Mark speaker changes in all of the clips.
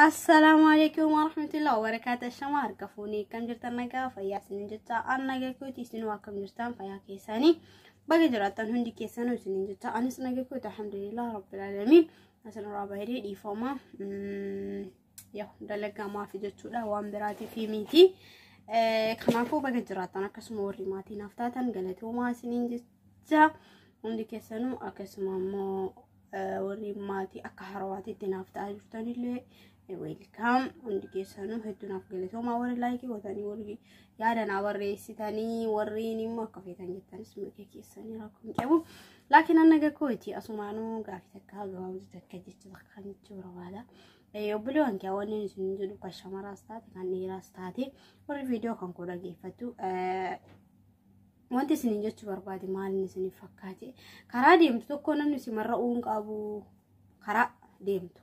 Speaker 1: Assalaamu alaikum warahmatullahi wabarakatuh. Shama harka fuunee akkam jirtan nagaa fayyaa isiniin jecha an nagaa kooti isinuu akkam jirtan fayyaa keessanii baga jiraattan hundi keessanuu isiniin jecha anis nagaa kooti alhamdulillah rabbil alamin asin irraa baay'ee dhiifama. Yaa dalagaa maafi jechuudha waan biraatiif miti. Kanaafuu baga jiraatan akkasuma warri maatii naaf taatan galatoomaa isiniin jecha hundi keessanuu akkasuma immoo warri maatii akka harawaatiitti naaf ta'aa jirtanillee weelkaam hundi keessanuu hedduu naaf galatoomaa warri laayikii gootanii warri yaada naa barreessitanii warreen immoo akka feetan jettanis mirga keessanii rakkoo hin qabu. Laakiin annaga kooti asumaanuu gaafii takka gabaabduu takka jecha takka jechuu barbaada. Obboleewwan kiyya wanni isin jedhu kan shamaraas taate kan dhiiraas taate warri viidiyoo kan koo dhaggeeffattu wanti isin jechuu barbaade maaliin isin fakkaate karaa deemtu tokko namni si marra'uu hin qabu karaa deemtu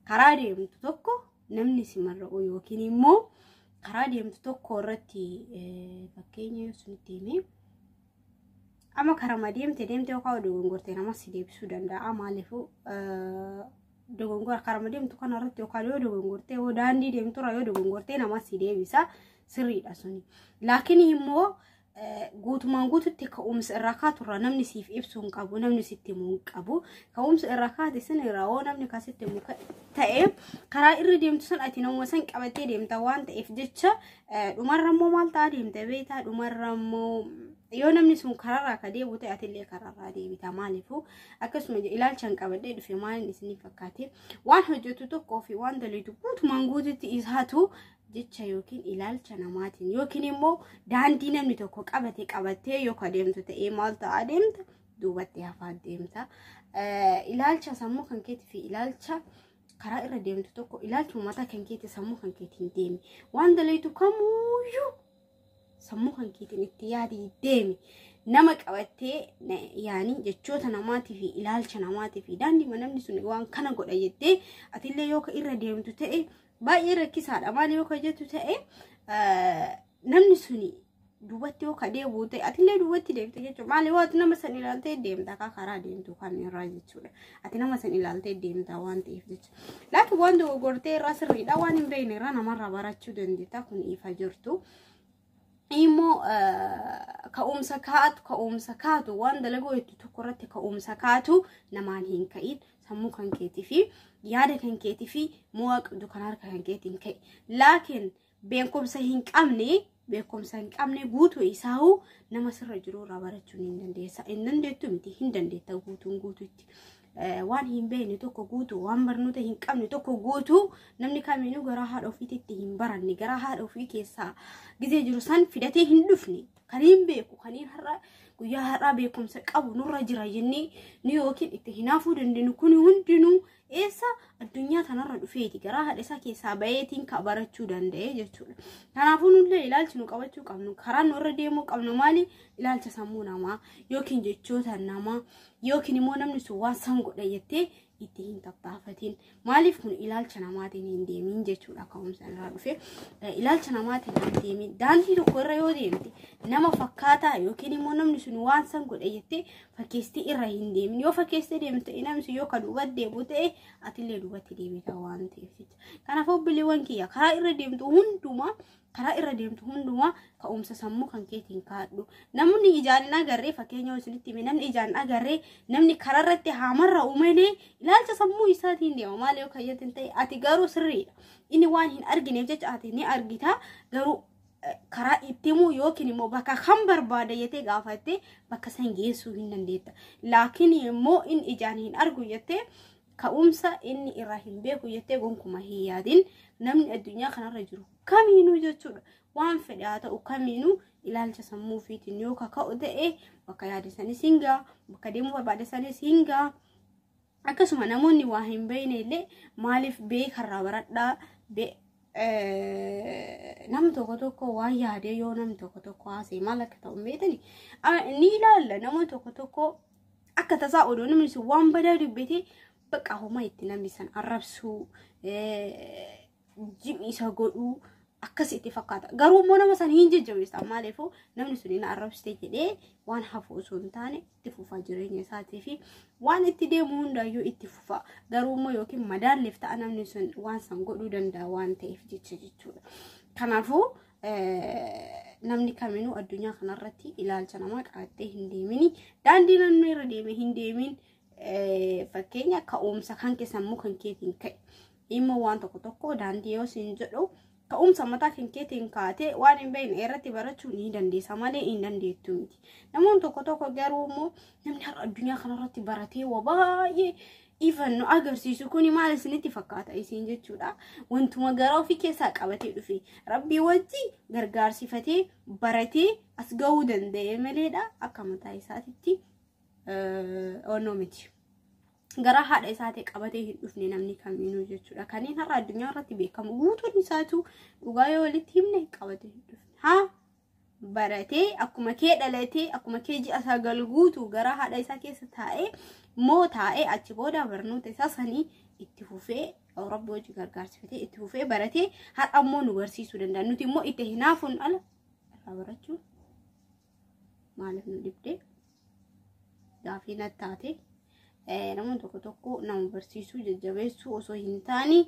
Speaker 1: karaa deemtu tokko namni si marra'uu yookiin immoo karaa deemtu tokko irratti fakkeenya yoo isinitti himee. Amma karama deemte deemte yookaan dogongorte nama si deebisuu danda'a maaliifuu dogongora karama deemtu kana irratti yookaan yoo dogongorte yoo daandii deemtu irra yoo dogongorte nama si deebisa sirriidha suni. Laakiin immoo guutumaan guututti ka'umsa irraa kaatu irraa namni siif ibsu hin qabu namni sitti himu hin qabu ka'umsa irraa kaate sin irraa hoo namni kan sitti himu ta'e karaa irra deemtu sun ati nama san qabattee deemta waan ta'eef jecha dhumarra immoo maal ta'a deemta beektaa dhumarra immoo yoo namni sun kararraa ka deebi'u ta'e atillee kararraa deebita maaliifuu akkasuma ilaalchaan qabadhee dhufe maaliin isinii fakkaate waan hojjetu tokkoo fi waan daliitu guutumaan guututti isaatu jecha yookiin ilaalcha namaatiin yookiin immoo daandii namni tokko qabate qabattee yoo ka deemtu ta'ee maal ta'a deemta duubatti hafaa deemta ilaalcha sammuu kan keetii fi ilaalcha karaa irra deemtu tokko ilaalcha mataa kan keetii sammuu kan keetiin deemi waan daliitu kamuuyyuu sammuu kan keetiin itti yaadi deemi nama qabattee na- yaanii jechoota namaatii fi ilaalcha namaatii fi daandiima namni sun waan kana godha jettee atillee yoo ka irra deemtu ta'e baay'ee rakkisaadha maal yoo ka jettu ta'e eh, namni sun duubatti yoo ka deebi'u ta'e atillee duubatti deemte jechuudha maal yoo ati nama san ilaaltee deemta akka karaa deemtu kan irraa jechuudha ati nama san ilaaltee deemta waan ta'eef jechuudha. Laatu waan dogoggortee irraa sirriidha waan hin beekne irraa namarraa barachuu dandeetta kun ifa jirtu. Immoo ka'umsa kaatu ka'umsa kaatu waan dalagoo hedduu tokko irratti ka'umsa kaatu namaan hin ka'in sammuu kan keetii fi yaada kan keetii fi mo'aa qabdu kan harka kan keetiin ka'i. Laakiin beekumsa hin qabne beekumsa hin qabne guutuu isaahuu nama sirra jiru irraa barachuun hin dandeessa hin dandeettu miti hin dandeetta guutuun guutuutti Eh, waan hin beekne tokko guutuu waan barnoota hin qabne tokko guutuu namni kamiinuu garaa haadha ofiititti hin baranne garaa haadha ofii keessaa gizee jiru san fidatee hin dhufne kan hin beeku kan hin har'a guyyaa har'aa beekumsa qabu nurra jira jennee nu yookiin itti hinaafuu dandeenyu kun hundinuu eessa addunyaa tanarra dhufeeti garaa haadha isaa keessaa bayeetiin ka barachuu danda'e jechuudha. Kanaafuu nullee ilaalchi nu qabachuu qabnu karaa nu irra deemuu qabnu maali ilaalcha sammuu namaa yookiin jechoota namaa yookiin immoo namni sun waan san godha jettee itti hin tattaafatiin maaliif kun ilaalcha namaatiin hin deemin jechuudha ka'umsa irraa dhufe ilaalcha namaatiin hin deemin daandii tokko irra yoo deemte nama fakkaataa yookiin immoo namni sun waan san godha jettee fakkeestii irra hin deemin yoo fakkeessee deemte inamsi yoo ka duuba deebu ta'e atillee duubatti deebita waan ta'eef jecha kanaaf obboleewwan kiyya karaa irra deemtu hundumaa karaa irra deemtu hundumaa ka'umsa sammuu kan keetiin kaadhu namni ijaan hin agarree fakkeenya yoo isinitti hime namni ijaan hin agarree namni karaa irratti haamarra uumelee ilaalcha sammuu isaatiin deema maal yoo kayyatti hin ta'e ati garuu sirriidha inni waan hin argineef jecha ati ni argita garuu karaa itti himuu yookiin immoo bakka kan barbaada jettee gaafattee bakka san geessuu hin dandeetta. Laakiin immoo in ijaan hin argu jettee ka'umsa inni irraa hin beeku jettee gonkuma hin yaadin namni addunyaa kanarra jiru kamiinuu jechuudha. Waan fedhe haa ta'u kamiinuu ilaalcha sammuu ofiitiin yoo kaka'u ta'e bakka yaade sanis hin ga'a, bakka deemuu barbaade sanis hin ga'a. akkasuma namoonni waa hin beekne illee maaliif beekarraa baradhaa be- eh, nam tokko tokko waan yaadee yoo nam tokko tokko haasee maal akka ta'u hin beekani Ah, ni ilaalla nama tokko tokko akka tasaa odoo namni sun waan badaa dubbate bakka homaa itti namni san arrabsuu eh, jim'i isa godhuu akkas itti fakkaata. Garuu immoo nama sana hin jajjabeessan maaliifuu namni sun na arrabsite jedhee waan hafu osoo hin taane itti fufaa jireenya isaatii fi waan itti deemu hundaayyuu itti fufaa. Garuu immoo yookiin madaalleef ta'a namni sun waan san godhuu danda'a waan ta'eef jecha jechuudha. Kanaafuu namni kaminuu addunyaa kanarratti ilaalcha namaa qabattee hin deemini. Daandii namni irra deeme hin deemin. Fakkeenya ka'umsa kan kee sammuu kan keetiin ka'e dhimma waan tokko tokko daandii yoo siin jedhu ka'umsa mataa kan keetiin kaatee waan hin beekne irratti barachuu ni dandeessa malee hin dandeettu miti. Namoonni tokko tokko garuu immoo namni har'a addunyaa kanarratti baratee waa baay'ee ifan nu agarsiisu kuni maal isinitti fakkaata isin jechuudha. Wantuma gara ofii keessaa qabatee dhufe rabbii wajji gargaarsifatee baratee as ga'uu danda'e maleedha akka mataa isaatitti onnoo miti. Garaa haadha isaatii qabatee hin dhufne namni kamiinuu jechuudha. Kanneen har'a addunyaa irratti beekamu guutuun isaatu dhugaa yoo walitti himne qabatee hin dhufne. Haa baratee akkuma kee dhalatee akkuma kee ji'a sagal guutu garaa haadha isaa keessa taa'ee moo taa'ee achi booda barnoota isaa sanii itti fufee Awurooppaa hojii gargaarsifatee itti fufee baratee har'a immoo nu barsiisuu danda'a. Nuti immoo itti hinaafuun ala irraa barachuu maaliif nu dhibde gaafii na taate namoonni tokko tokko nama barsiisuu jajjabeessuu osoo hin taane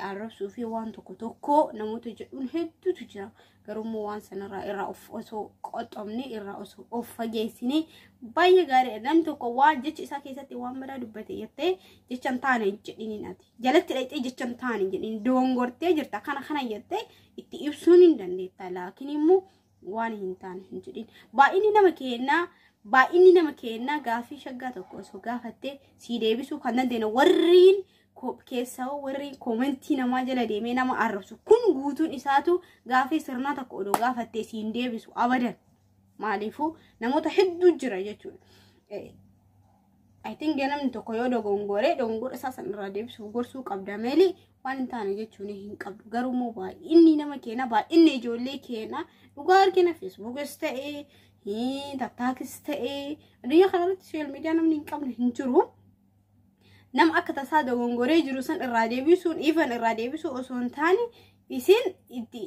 Speaker 1: arrabsuu fi waan tokko tokko namoota jedhuun hedduutu jira garuummoo waan sanarraa irraa of osoo qoxxomne irraa osoo of fageessine baay'ee gaariidha namni tokko waan jecha isaa keessatti waan badaa dubbate jettee jecha hin taane jedhiniin ati jalatti dhaqxee jecha hin taane jedhiniin doongortee jirta kana kana jettee itti ibsuun hin dandeetta laakiin immoo waan hin taane hin jedhin baay'inni nama keenyaa baay'inni nama keenyaa gaaffii shaggaa tokko osoo gaafattee sii deebisuu kan dandeenye warriin keessaa warri koomentii namaa jala deemee nama arrabsu kun guutuun isaatu gaaffii sirnaa tokko odoo gaafattee siin deebisu abadan maaliifuu namoota hedduu jira jechuudha. I think namni tokko yoo dogongore dogongora isaa san irraa deebisuuf gorsuu qabda malee waan hin taane jechuun hin qabdu garuu immoo baay'inni nama keena baay'inni ijoollee keena dhugaa argina feesbuukis ta'ee tattaakis ta'ee addunyaa kanarratti sooshaal miidiyaa namni hin qabne hin jiru. Nama akka tasaa dogongoree jiru san irraa deebisuun ifan irraa deebisuu osoo hin taane isin itti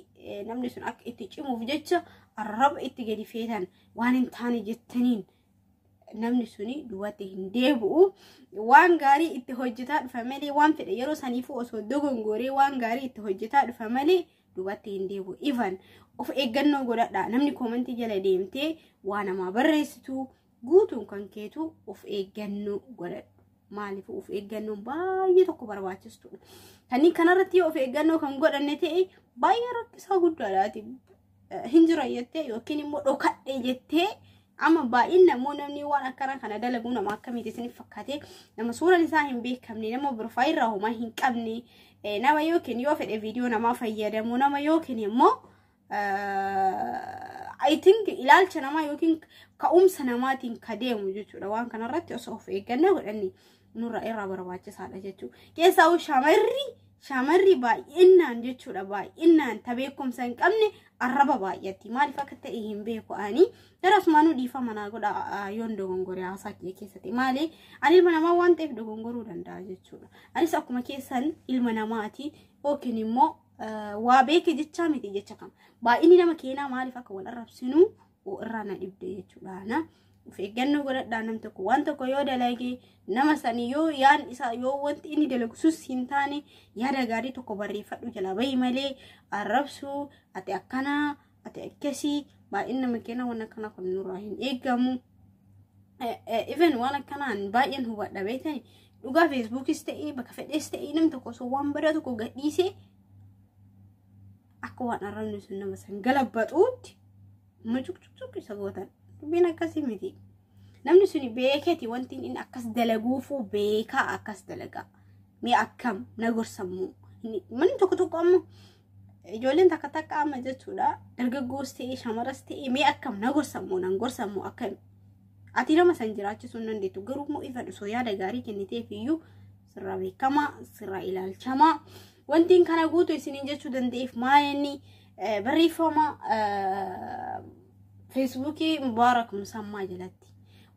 Speaker 1: namni sun akka itti cimuuf jecha arraba itti gadi feetan waan hin taane jettaniin namni suni duwwaatti hin deebi'u waan gaarii itti hojjetaa dhufa malee waan fedhe yeroo saniifuu osoo dogongoree waan gaarii itti hojjetaa dhufa malee duwwaatti hin deebi'u ifan of eeggannoo godhadha namni koomantii jala deemtee waa namaa barreessitu guutuun kan keetu of eeggannoo godhadhu maaliif of eeggannoon baay'ee tokko barbaachistudha kanneen kanarratti yoo of eeggannoo kan godhanne ta'e baay'ee rakkisaa guddaadhaati hin jira jettee yookiin immoo dhokadhe jettee Amma baay'inna immoo namni waan akkana kana dalagu nama akkamiiti isiniif fakkaate nama suuraan isaa hin beekamne nama birfaayirraa homaa hin qabne nama yookiin yoo fedhe viidiyoo namaa fayyadamu nama yookiin immoo I think ilaalcha namaa yookiin ka'umsa namaatiin ka deemu jechuudha waan kanarratti osoo of eeggannoo godhanne nurra irraa barbaachisaadha jechuudha. Keessaa shamarri shamarri baay'inaan jechuudha baay'inaan ta beekumsa hin qabne arraba baay'atti maaliif akka ta'e hin beeku ani gara asumaanuu dhiifama naa godha yoon dogongore haasaa kiyya keessatti maali ani ilma namaa waan ta'eef dogongoruu danda'a jechuudha anis akkuma keessan ilma namaati yookiin immoo waa beeke jechaa miti jecha kam baay'inni nama keenyaa maaliif akka wal arrabsinuu uu irraa na dhibde jechuudhaana. Of eeggannoo godhadhaa nam tokko waan tokko yoo dalage nama sanii yoo yaan isaa yoo wanti inni dalagu sus hin taane yaada gaarii tokko barreeffadhu jalaa bahi malee arrabsuu ati akkanaa ati akkasii baay'een nama keena waan akkana kun nurraa hin eegamu. Even waan akkanaan baay'een hubadha beekani dhugaa feesbuukis ta'ee bakka fedhees ta'ee nam tokko osoo waan badaa tokko gadhiisee akka waan arrabni sun nama san galabbatuutti mucuqcuqcuq isa gootan dubbiin akkasii miti namni suni beeketi wanti inni akkas dalaguufuu beekaa akkas dalagaa mee akkam na gorsammuu manni tokko tokko amma ijoolleen takka takka amma jechuudha dargaggoos ta'ee shamaras ta'ee mee akkam na gorsammuu nan gorsammuu akkam ati nama san jiraachisuun dandeettu garuu immoo ifa dhusoo yaada gaarii kenniteef iyyuu sirraa beekamaa sirraa ilaalchamaa wantiin kana guutu isiniin jechuu danda'eef maalinni barreeffama feesbuukii mubaarak musammaa jalatti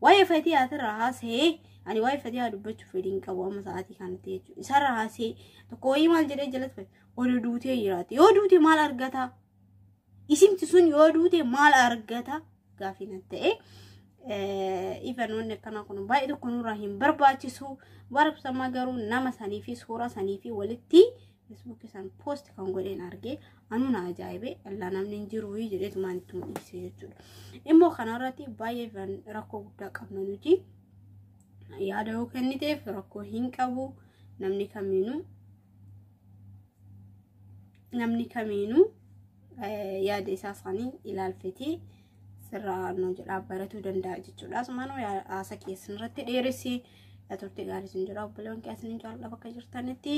Speaker 1: waa'ee fatiyaatirraa haasa'ee ani waa'ee fatiyaa dubbachuuf fedhiin qabu amma sa'aatii kanatti jechuudha isarraa haasa'ee tokko wayii maal jedhee jalatti wayii duutee jiraate yoo duute maal argataa isimti sun yoo duute maal argata gaafii nan ta'e ifanoonni akkanaa kun baay'ee tokko nurraa hin barbaachisu barabsamaa garuu nama sanii fi suuraa sanii fi walitti feesbuukii san poost kan godheen argee anuu na ajaa'ibe allaa namni hin jiru jedheetumaan itti mul'ise jechuudha immoo kanarratti baay'ee rakkoo guddaa qabna nuti yaada yoo kenniteef rakkoo hin qabu namni kamiinuu namni kamiinuu yaada isaa isaanii ilaalfetee sirraa nu jedhaa baratuu danda'a jechuudha. Asumaan haasa keessan irratti dheeressi turte gaarii isin jira obboleewwan keessan hin jaalladha bakka jirtanitti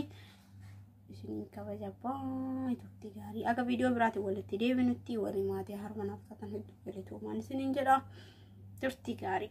Speaker 1: isin kabaja baay'ee turte gaarii akka viidiyoo biraatiin walitti deebinutti walii maatii harma naaf taatan hedduu galatoomaa isiniin jedha turte gaarii.